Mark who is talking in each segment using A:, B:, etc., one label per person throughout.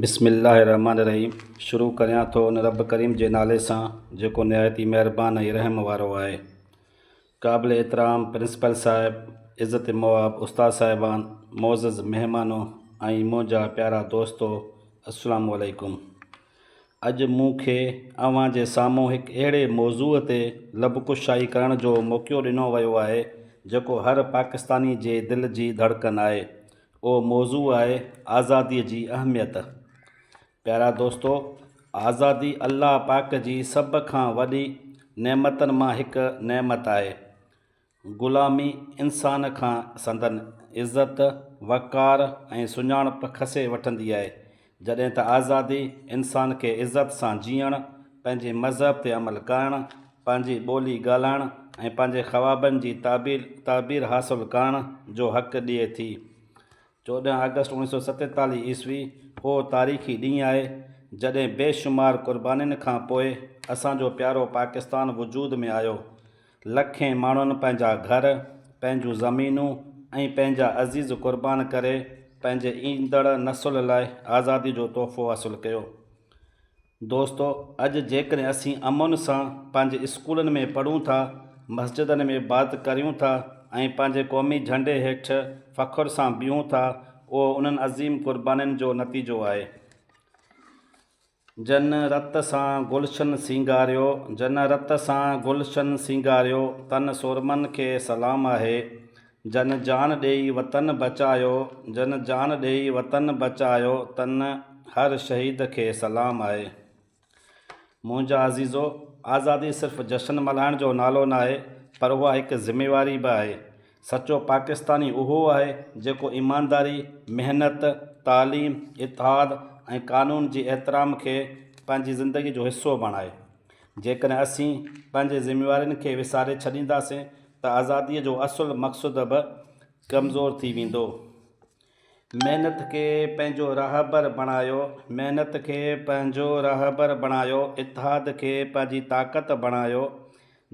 A: بسم الله الرحمٰن الرحيم شروع ڪريان ٿو ان رب ڪريم جي نالي سان جيڪو نهايت ئي مهربان ۽ رحم وارو آهي. قابل احترام پرنسپل صاحب، عزت مآب استاد صاحبان، معزز مهمانو ۽ منهنجا پيارا دوستو السلام عليڪم. اڄ مون کي اوهان جي سامهون هڪ اهڙي موضوع تي لب ڪشائي ڪرڻ جو موقعو ڏنو ويو آهي جيڪو هر پاڪستاني جي دل جي ڌڙڪن آهي. اهو موضوع آهي آزاديء جي اهميت. پيارا دوستو! آزادي الله پاڪ جي سڀ کان وڏي نعمتن مان هڪ نعمت آهي. غلامي انسان کان سندن عزت، وقار ۽ سڃاڻپ کسي وٺندي آهي. جڏهن ته آزادي انسان کي عزت سان جيئڻ، پنهنجي مذهب تي عمل ڪرڻ، پنهنجي ٻولي ڳالهائڻ ۽ پنهنجي خوابن جي تعبير تعبير حاصل ڪرڻ جو حق ڏئي ٿي. چوڏهن آگسٽ اوڻيھ سؤ ستيتاليھ عيسوي اهو تاريخي ڏينهن آهي، جڏهن بيشمار قربانين کان پوء اسان جو پيارو پاڪستان وجود ۾ آيو. لکين ماڻهن پنهنجا گهر، پنهنجون زمينون ۽ پنهنجا عزيز قربان ڪري پنهنجي ايندڙ نسل لاء آزادي جو تحفو حاصل ڪيو. دوستو اڄ جيڪڏهن اسين امن سان پنهنجي اسڪولن ۾ پڙهون ٿا، مسجدن ۾ عبادت ڪريون ٿا ۽ پنهنجي قومي جهنڊي هيٺ فخر سان بيهون ٿا اهو انهن عظيم قربانين جو نتيجو آهي. جن رت سان گلشن سينگاريو، جن رت سان گلشن سينگاريو، تن سورمن کي سلام آهي، جن جان ڏيئي وطن بچايو، جن جان ڏيئي وطن بچايو، تن هر شهيد کي سلام آهي. منهنجا عزيزو! آزادي صرف جشن ملهائڻ جو نالو ناهي، پر اها هڪ ذميواري به آهي. سچو پاڪستاني اهو آهي جيڪو ايمانداري، محنت، تعليم، اتحاد ۽ قانون جي احترام کي پنهنجي زندگي جو حصو بڻائي. جيڪڏهن اسين پنهنجي ذميوارين کي وساري ڇڏينداسين ته آزادي جو اصل مقصد به ڪمزور ٿي ويندو. محنت کي پنهنجو رهبر بڻايو، محنت کي پنهنجو رهبر بڻايو، اتحاد کي پنهنجي طاقت بڻايو،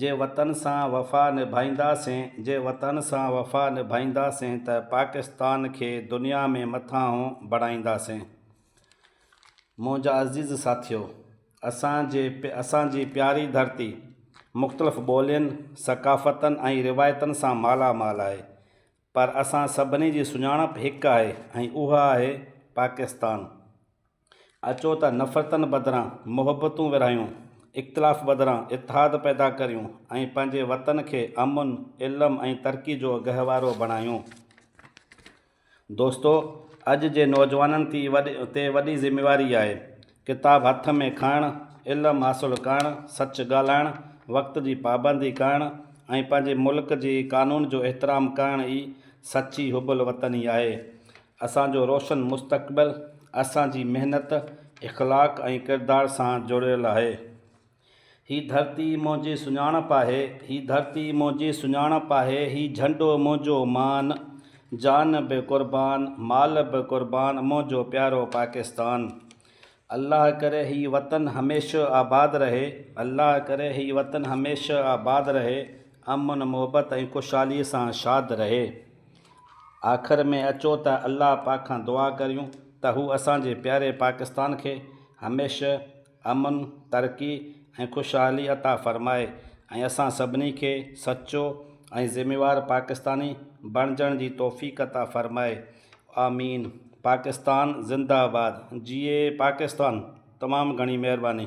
A: جي وطن سان وفا نڀائينداسين، جي وطن سان وفا نڀائينداسين ته پاڪستان کي دنيا ۾ مٿانهون بڻائينداسين. منهنجا عزيز ساٿيو! اسان جي اسان جي پياري ڌرتي مختلف ٻولين، ثقافتن ۽ روايتن سان مالا مال آهي. پر اسان سڀني جي سڃاڻپ هڪ آهي ۽ اها آهي پاڪستان. اچو ته نفرتن بدران محبتون ورهايون، اختلاف بدران اتحاد پيدا ڪريون ۽ پنهنجي وطن کي امن، علم ۽ ترقي جو گهوارو بڻايون. دوستو! اڄ جي نوجوانن تي وڏي ذميواري آهي ڪتاب هٿ ۾ کڻڻ، علم حاصل ڪرڻ، سچ ڳالهائڻ، وقت جي پابندي ڪرڻ ۽ پنهنجي ملڪ جي قانون جو احترام ڪرڻ ئي سچي حب الوطني آهي. اسان جو روشن مستقبل اسان جي محنت، اخلاق ۽ ڪردار سان جڙيل آهي. هي ڌرتي منهنجي سڃاڻپ آهي، هي ڌرتي منهنجي سڃاڻپ آهي، هي جهنڊو منهنجو مان، جان به قربان، مال به قربان، منهنجو پيارو پاڪستان. الله ڪري هي وطن هميشه آباد رهي، الله ڪري هي وطن هميشه آباد رهي، امن محبت ۽ خوشحالي سان شاد رهي. آخر ۾ اچو ته الله پاڪ کان دعا ڪريون ته هو اسان جي پياري پاڪستان کي هميشه امن، ترقي ۽ خوشحالي عطا فرمائي ۽ اسان سڀني کي سچو ۽ ذميوار پاڪستاني بڻجڻ جي توفيق عطا فرمائي آمين پاڪستان زنده آباد جيئي پاڪستان تمام گهڻي مهرباني.